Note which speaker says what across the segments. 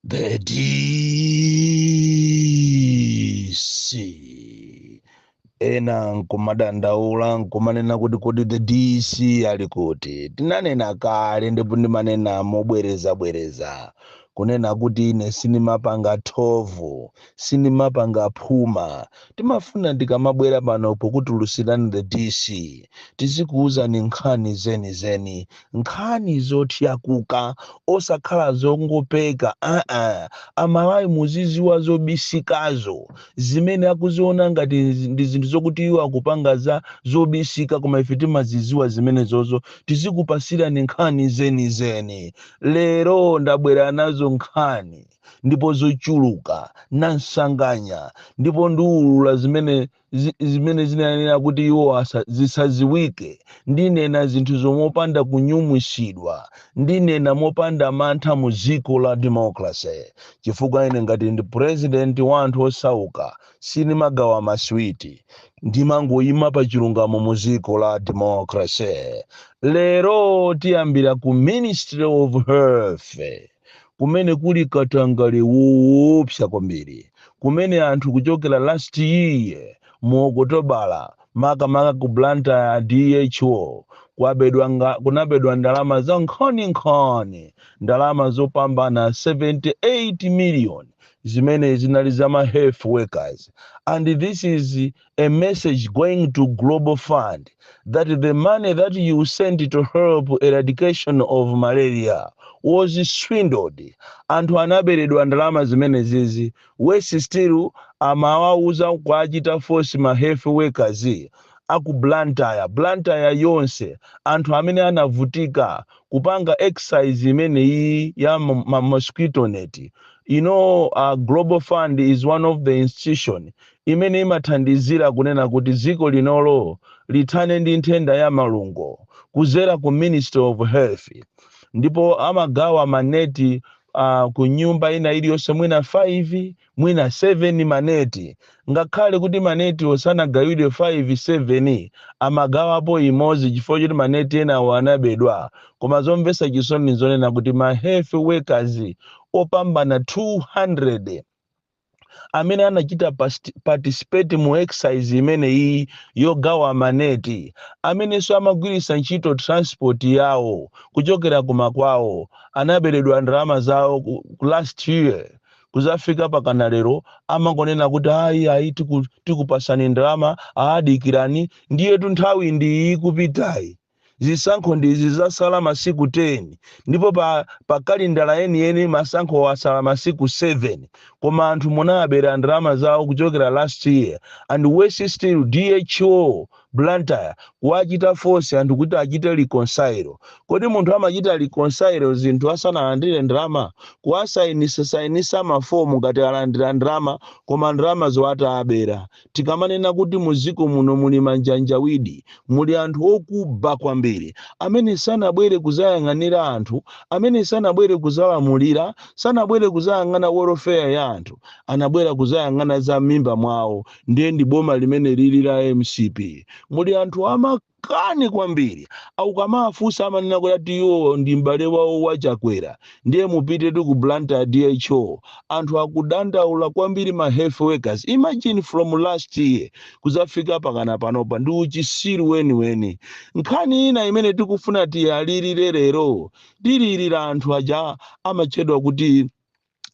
Speaker 1: The DC ena nkumadandaula nkumanena kuti kodi the DC ali kuti tinanena kale ndipo ndimanena mobwerezabwereza kunena kuti ine sinimapanga thovu sinimapanga phuma timafuna tikamabwera pano pokutulutsirani the DC tizikuwuzani nkhani zenizeni Nkhani zotakataka osakhala zongopeka aa amalawi muziziwa zobisikazo zimene akuziona ngati ndi zinthu zokuti iwo akupanga za zobisika koma ife timaziziwa zimene zozo tizikupasirani nkhani zenizeni lero ndabwera nazo nkhani ndipo zochuluka nansanganya ndipo ndiulula zimene zimene zinanena kuti iwo zisaziwike ndinena zinthu mopanda kunyumwisidwa ndinena mopanda mantha mu dziko la democracy chifukwa ine ngati ndi president wa anthu osauka sinimagawa maswiti ndimangoyima pa chilungamo mu dziko la democracy lero tiyambira ku ministry of health kumene kuli katangale woopsa kwambiri kumene anthu kuchokera last year mu okotobala makamaka ku blantyre dho kunabedwa ndalama za nkhaninkhani ndalama zopambana 78 million zimene zinali za ma health workers and this is a message going to Global Fund that the money that you sent to help eradication of malaria was swindled. Anthu anaberedwa ndalama zimenezizi. Wesi still amawauza kuwachita force ma health workers aku Blantyre, Blantyre yonse anthu amene anavutika kupanga exercise imeneyi ya ma mosquito net. You know, uh, Global Fund is one of the institution imene imathandizira kunena kuti dziko linolo lithane ndi nthenda ya malungo kuzera ku ministry of health ndipo amagawa maneti uh, ku nyumba ina iliyonse mwina 5 mwina 7 maneti ngakhale kuti manetiwo sanagawidwe 5 7 amagawapo imodzi chifukwa choti maneti enawo anabedwa koma zomvetsa chisoni nzonena kuti ma health workers opambana 200 amene anachita participate mu exercise imeneyi yogawa maneti amenenso amagwiritsa ntchito transport yawo kuchokera kumakwawo anaberedwa ndalama zawo ku last year kuzafika pakana lero amangonena kuti ayi ayi tikupasani ndalama aa dikirani ndiyetu nthawi ndiyi ikupitayi Zisankho ndi izi zasala masiku 10 ndipo pa kalendala yeniyeni masankhowo asala masiku 7 koma anthu munawabera ndalama zawo kuchokera last year and worse still DHO Blantyre kuwachita force anthu kuti achite reconcile. Kodi munthu amachita reconcile zinthu asanalandire ndalama? Kuwasainisa sainisa ma form ngati alandira ndalama koma ndalamazo atawabera. Tikamanena kuti mu dziko muno muli manjanjawidi, muli anthu okuba kwambiri, amene sanabwere kudzayang'anira anthu, amene sanabwere kudzalamulira, sanabwere kudzayang'ana welfare ya anthu, anabwera kudzayang'ana za m'mimba mwawo, ndiye ndi boma limene lili la mcp. Muli anthu a ma. Kani kwambiri mukamawafunsa amanena kuti ati iwo ndi m'bale wawo wa chakwera ndiye mupite ku Blantyre DHO anthu akudandaula kwambiri ma health workers imagine from last year kuzafika pakana panopa ndi uchisiru weniweni nkhani ina imene tikufuna tiyilirire lero tilirira anthu aja amatchedwa kuti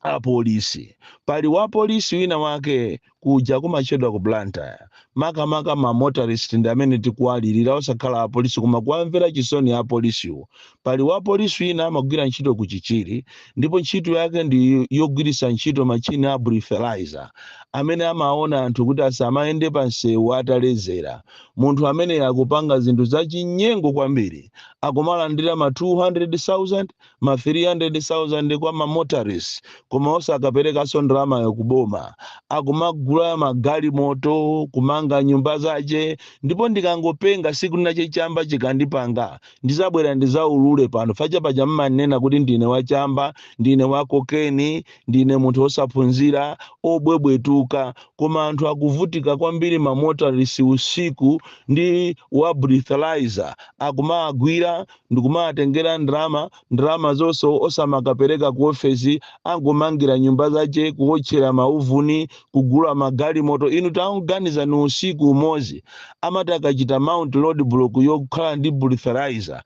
Speaker 1: apolisi pali wapolisi wina wake kuja kumatchedwa ku blantyre makamaka ma motorist ndi amene tikuwalirira osakhala apolisi koma kuwamvera chisoni apolisiwo pali wapolisi wina amagwira ntchito ku chichiri ndipo ntchito yake ndi yogwiritsa ntchito machini a breathalyzer amene amaona anthu kuti asamayende pa msewu ataledzera munthu amene akupanga zinthu zachinyengo kwambiri akumalandira ma 200,000 ma 300,000 kwa ma motorist koma osakaperekanso ndalamayo ku boma akumagula magalimoto kumanga nyumba zache ndipo ndikangopenga siku linache chamba chikandipanga ndizabwera ndizaulule pano paja paja mmanena kuti ndine wachamba ndine wa kokeni ndine munthu osaphunzira obwebwetuka koma anthu akuvutika kwambiri ma motorist usiku ndi wa breathalyzer akumawagwira ndikumawatengera ndalama, ndalamazonso osamakapereka ku ofesi, angomangira nyumba zache, kuotchera mauvuni, kugula magalimoto, inu taganizani usiku umozi amati akachita mount roadblock yokhala ndi breathalyzer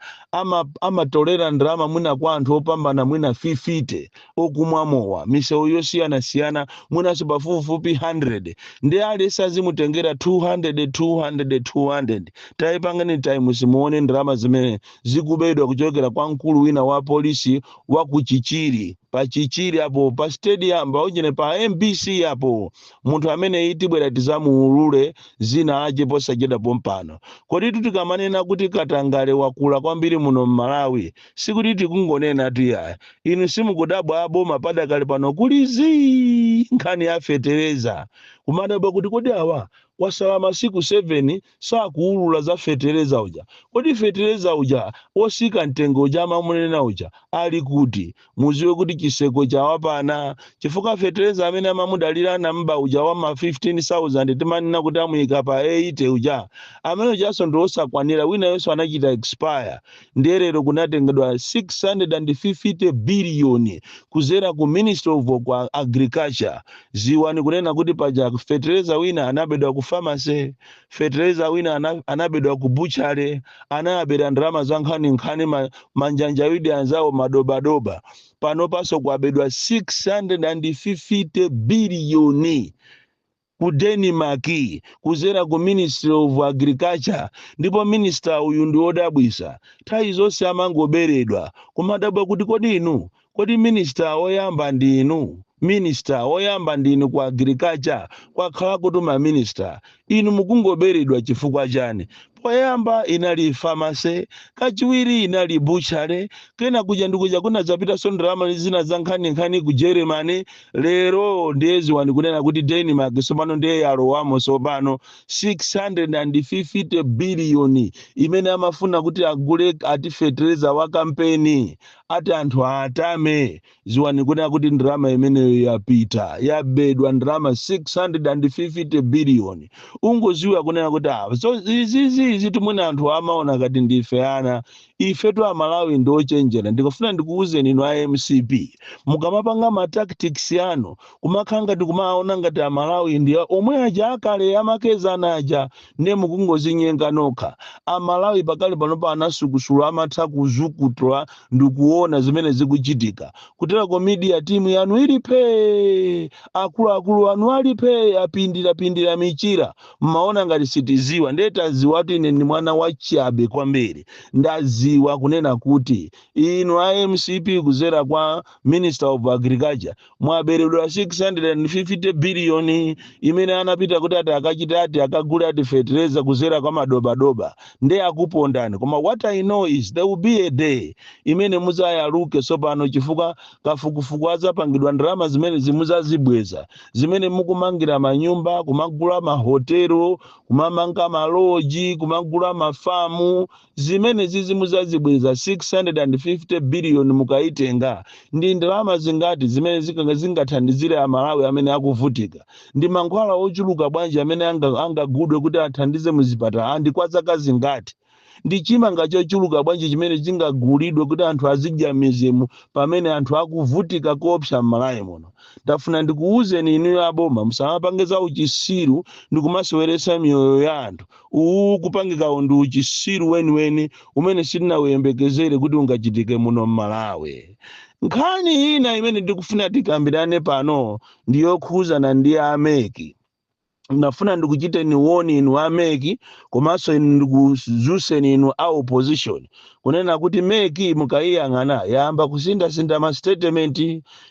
Speaker 1: amatolera ndalama mwina kwa anthu opambana mwina 50, okumwa mowa misewu yosiyanasiyana mwinanso pafupifupi 100 ndi aliyense azimutengera 200 200 200 tayipangani times muone ndalama zimene zikubedwa kuchokera kwa mkulu wina wa polisi wa ku chichiri pa chichiri apo pa stadium pa ujeni pa mbc apo munthu ameneyu tibwera tizamuulule zina lache posachedwa pompano kodi tikamanena kuti katangale wakula kwambiri muno m'malawi sikuti tikungonena tu yayi. Inu simukudabwa aboma padakali pano ali zii nkhani ya fetereza. Kumadabwa kuti kodi awa kwasala masiku 7 sakuulula za fetereza uja. Kodi fetereza uja osika mtengo uja amamunena uja ali kuti? Muziwe kuti chiseko chawapana chifukwa fetereza amene amamudalira anamuba uja wa ma 15,000 timanena kuti amuika pa 80 uja, amene ujanso ndi osakwanira wina yense anachita expire. ndiye lero kunatengedwa 650 biliyoni kuzera ku ministry of kwa agriculture ziwani kunena kuti paja fetereza wina anabedwa ku pharmacy fetereza wina ana- anabedwa ku butchery anayabera ndalama za nkhaninkhani ma- manjanjawidi anzawo madobadoba panopanso kwabedwa 650 biliyoni ku Denmark kuzera ku ministry of agriculture ndipo minister uyu ndiodabwisa nthawi zonse amangoberedwa kumadabwa kuti kodi inu kodi minister oyamba ndiinu minister oyamba ndiinu ku agriculture kwakhalakotu ma minister inu mukungoberedwa chifukwa chani Poyamba inali pharmacy, kachiwiri inali butchery, kena kudya ndi kudya kunadzapitanso ndalama zina zankhaninkhani ku Germany, lero ndiye dziwani kunena kuti Denmark tsopano ndiye yalowamo tsopano, 650 billion imene amafuna kuti agule ati fetereza wa kampeni, ati anthu awatame. ziwani kunena kuti ndalama imeneyo yapita yabedwa ndalama 650 biliyoni ungoziwa kunena kuti ah, so izizi izi timwe anthu amaona kati ndife ana ife tu amalawi ndi ochenjera ndikufuna ndikuwuzeni inu a mcp mukamapanga ma tactics anu kumakhala ngati kumaona ngati amalawi ndi omwe aja akale amakezana aja ndiye mukungozinyenga nokha amalawi pakali panopa anasukusula amatha kuzukutula ndikuona zimene zikuchitika kutereko media timu yanu ili phee akuluakulu anu ali phee apindirapindira michira mmaona ngati sitiziwa ndiye taziwatu ine ndi mwana wachabe kwambiri ndaziwa kunena kuti inu a mcp kuzera kwa minister of agriculture mwaberedwa 650 biliyoni imene anapita kuti ati akachite ati akagule ati fetereza kuzera kwa madobadoba nde akupondani koma what i know is there will be a day imene muzayaluke tsopano chifukwa kafukufuku azapangidwa ndalama zimenezi muzazibweza zimene mukumangira manyumba kumagula mahotelo kumamanga maloji kumagula mafamu Zimene zizimuzazibweza 650 billion mukaitenga ndi ndalama zingati zimene zingathandizire a Malawi amene akuvutika? Ndi mankhwala ochuluka bwanji amene angagudwe kuti athandize muzipatala and kwa zaka zingati? Ndi chimanga chochuluka bwanji chimene chingagulidwe kuti anthu azidya mmizimu pamene anthu akuvutika koopsa mMalawi muno? Ndafuna ndikuuzeni inuyo aboma musamapange zauchisiru ndikumaseweretsa miyoyo ya anthu Uwu ukupangikawu ndi uchisiru weniweni umene sitinauyembekezere kuti ungachitike muno m'Malawi. Nkhani ina imene ndikufuna tikambirane pano ndi yokhuzana ndi a mec. Ndinafuna ndikuchiteni warn inu a mec komanso inu ndikuzuseni inu a opposition kunena kuti mec mukayiyang'ana yayamba kusinthasintha ma statement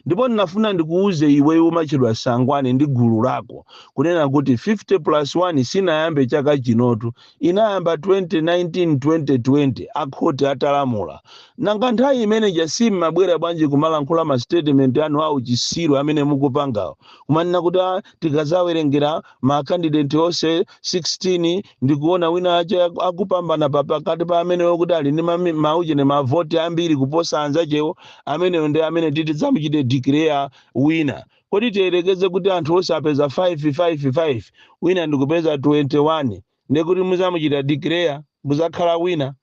Speaker 1: Ndipo ndinafuna ndikuuze iwe umatchedwa Sangwane ndi gulu lako, kunena kuti 50 plus 1 sinayambe chaka chinotu, inayamba 2019, 2020, a khoti atalamula. Nanga nthawi imene ija simmabwera bwanji kumalankhula ma statement anu a uchisiru amene mukupangawo, kumanena kuti tikazawerengera ma candidate onse 16, ndikuona wina ache akupambana pakati pa amenewo kuti ali ndi mauchene mavoti ambiri kuposa anzachewo ameneyo ndi amene titizamuchite declare winner kodi tiyerekeze kuti anthu onse apeza 555 wina ndikupeza 21 ndekuti muzamuchita declare kuzakhala winner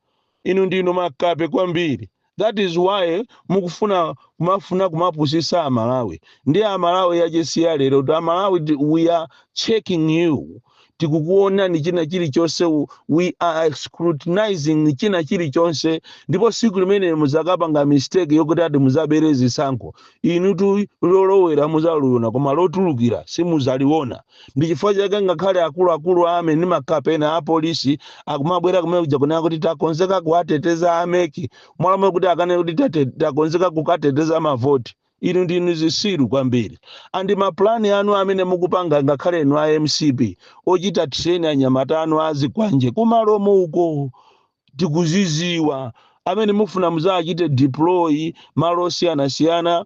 Speaker 1: Inu ndinu makape kwambiri that is why mukufuna kumafuna kumapusisa amalawi ndi amalawi achisiya lerotu amalawi we are checking you tikukuonani china chilichonse we are scrutinizing china chilichonse ndipo siku limene muzakapanga mistake yokuti ati muzabere zisankho inutu lolowera muzaliona koma lotulukira simuzaliona ndi chifukwa chake ngakhale akuluakulu a army ndi makape ena apolisi akumabwera kumene kuja kunena kuti takonzeka kuwateteza a mec mmalo moti akanene kuti takonzeka kukateteza mavoti inu ndinu zisiru kwambiri and mapulani anu amene mukupanga ngakhale inu a mcp ochita train anyamata anu azikwanje kumalomo uko tikuziziwa amene mufuna muzawachite deploy malo osiyanasiyana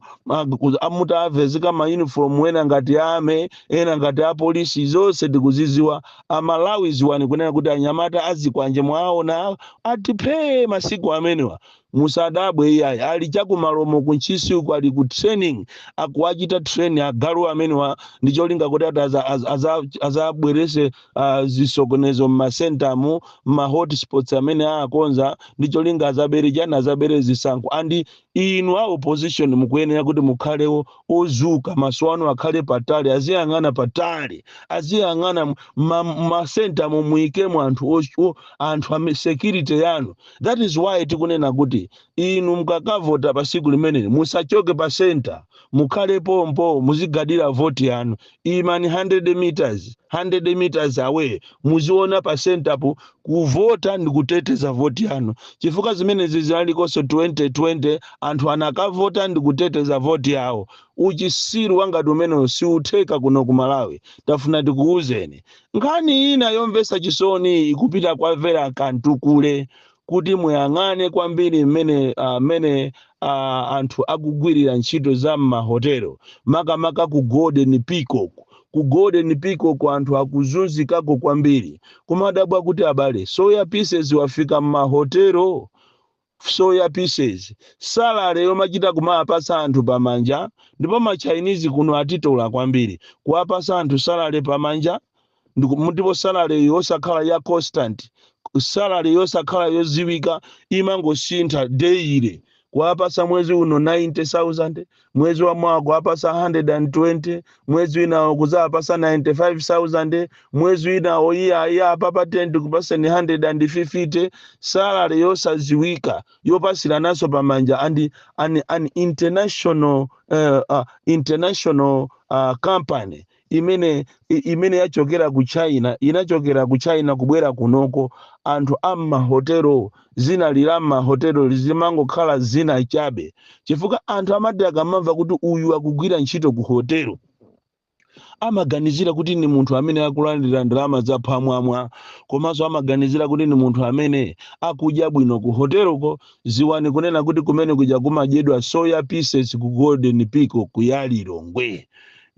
Speaker 1: a- mutawavezeka ma uniform ena ngati a army ena ngati apolisi zonse tikuziziwa amalawi ziwani kunena kuti anyamata azikwanje mwaona adipipi masiku amenewa Musadabwe iyayi, ali cha ku Malomo ku Ntchisi uko ali ku training, akuwachita train agalu amenewa ndi cholinga koti ati aza, aza, aza, azabwerese uh, zisokonezo mma center mo mma hotspots amene aakonza ndi cholinga azabere chani, azabere zisankho. And inu a opposition mukuyenera kuti mukhale o- odzuka, maso anu akhale patali, aziyang'ana patali, aziyang'ana mma mma center mo muikemo anthu o- o- anthu ame security yanu that is why tikunena kuti inu mukakavota pa siku limeneli musachoke pa center mukhale pompo muzigadira voti yanu imani 100 meters 100 meters away muziona pa center po kuvota ndi kuteteza voti yanu chifukwa zimenezi zinalikonso 2020 anthu anakavota ndi kuteteza voti yawo uchisiru wa ngati umenewo siutheka kuno ku malawi tafuna tikuwuzeni Nkhani ina yomvetsa chisoni ikupita kwa Vera Kamtukule kuti muyang'ane kwambiri mmene ah, mmene ah, anthu akugwirira ntchito za m'mahotelo makamaka ku Golden Peacock. Ku Golden Peacock anthu akuzunzikako kwambiri. Kumadabwa kuti abale, soya pieces wafika m'mahotelo? Soya pieces, salary yomachita kumawapatsa anthu pamanja ndipo ma Chinese kuno atitola kwambiri kuwapatsa anthu salary pamanja ndiku ndipo salary yosakhala ya constant, salary yosakhala yodziwika imangosintha daily kuwapatsa mwezi uno 90,000, mwezi wa mawa kuwapasa 120 mwezi winawo kuzawapasa 95000 mwezi winawo iyayi apapa ndikupaseni 150 salary yosaziwika yopasirananso pamanja and an, an international uh, uh, international uh, company imene i- imene yachokera ku china inachokera ku china kubwera kunoko anthu a m'mahotelo zina ili la m'mahotelo limangokhala zina chabe chifukwa anthu amati akamamva kuti uyu akugwira ntchito ku hotelo amaganizira kuti ni munthu amene akulandira ndalama zaphwamwamwa komanso amaganizira kuti ni munthu amene akudya bwino ku hoteloko ziwani kunena kuti kumene kuja kumadyedwa soya pieces ku golden peacock ya lilongwe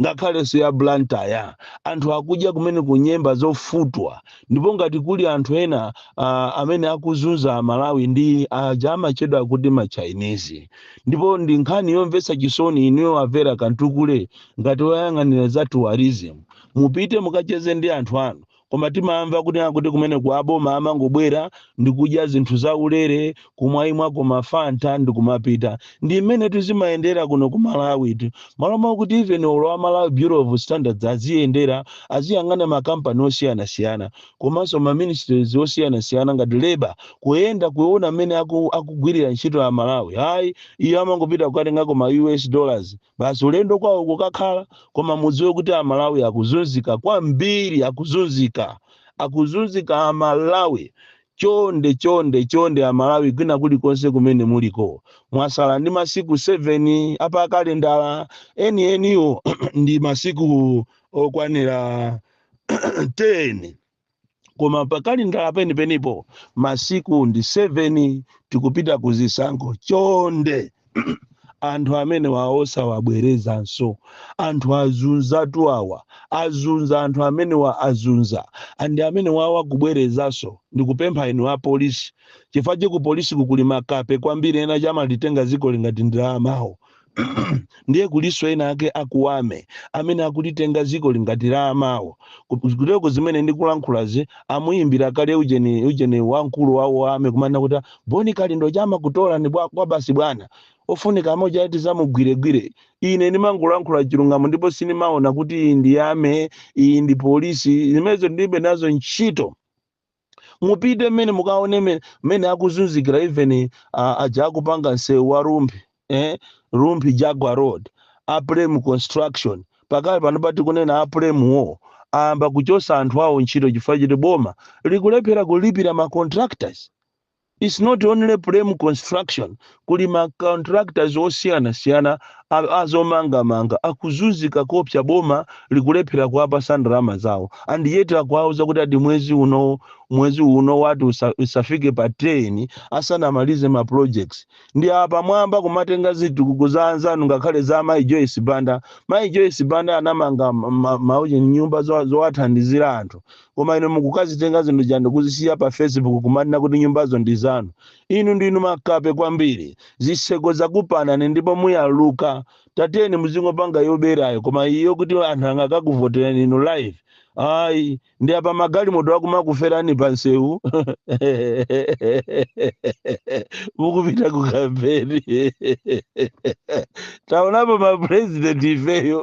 Speaker 1: ngakhalenso ya Blantyre. Anthu akudya kumeneku nyemba zofutwa, ndipo ngati kuli anthu ena uh, amene akuzunza Amalawi ndi aja amachedwa kuti Machinese. Ndipo ndi nkhani yomvetsa chisoni inuyo a Vera Kamtukule ngati woyang'anira za tourism, mupite mukacheze ndi anthu anu koma timamva kunena kuti kumeneko aboma amangobwera ndi kudya zinthu zaulere kumwaimwako mafanta ndi kumapita ndi mmenetu zimayendera kuno ku malawitu malo mwakuti even olo a malawi bureau of standards aziyendera aziyang'ana makampani osiyanasiyana komanso ma ministries osiyanasiyana ngati leba kuyenda kuona mmene aku- akugwirira ntchito aMalawi ayi iyo amangopita kukatengako ma us dollars basi ulendo kwawo kukakhala koma mudziwe kuti amalawi akuzunzika kwambiri akuzunzika akuzunzika amalawi chonde chonde chonde amalawi kwina kulikonse kumene muliko mwasala ndi masiku 7 a pakalendala enieniwo ndi masiku okwanira 10 koma pakalendala penipenipo masiku ndi 7 tikupita ku zisankho chonde anthu amenewa osawabwerezanso anthu azunzatu awa azunza anthu amenewa azunza anthu amenewa kubwerezanso ndikupempha inu a polisi chifukwa ku polisi kukuli makape kwambiri enaake amalitenga zikoli ngati ndi la amawo ndiye kuliso ena ake a ku army amene akulitenga dzikoli ngati la amawo kuteko zimene ndikulankhulazi amuyimbira kale ujeni ujeni wamkulu wawo wa army kumanena kuti Bon Kalindo akumakutokotani bwa- kwa basi bwana ofunika a mujati tizamugwiregwire ine ndimangolankhula chilungamo ndipo sindimaona kuti iyi ndi army iyi ndi polisi zimenezo ndilibe nazo ntchito mupite mmene mukaone me- mmene akuzunzikira even uh, aja akupanga msewu wa rumphi eh? rumphi nyika road a plem construction pakali pano patikunena a plem wo ayamba kuchosa anthu awo ntchito chifukwa chiti boma likulephera kulipira ma contractors Its not only Plem construction kuli ma contractors osiyana siyana a a zomanga manga akuzunzika koopsa boma likulephera kuwapasa ndalama zawo and yet akuwauza kuti ati mwezi uno mwezi uno ati usa, usafike pa 10 asanamalize ma projects ndi apamwamba kumatenga zitukuko za anzanu ngakhale za mai Joyce Banda mai Joyce Banda anamanga ma, ma, ma, nyumba zo- zowathandizira anthu Koma inu mukukazitenga zinthu zija ndikuzisiya pa Facebook kumanena kuti nyumbazo ndi zanu. Inu ndinu makape kwambiri. Zitseko zakupanani ndipo muyaluka. Tatiyeni muzingopanga yoberayo koma iyi yokuti anthu angakakuvotereni inu live. Ayi, ndi apa magalimoto akumakuferani pa nsewu. Mukupita ku kampeni. Taonapo ma president ifeyo.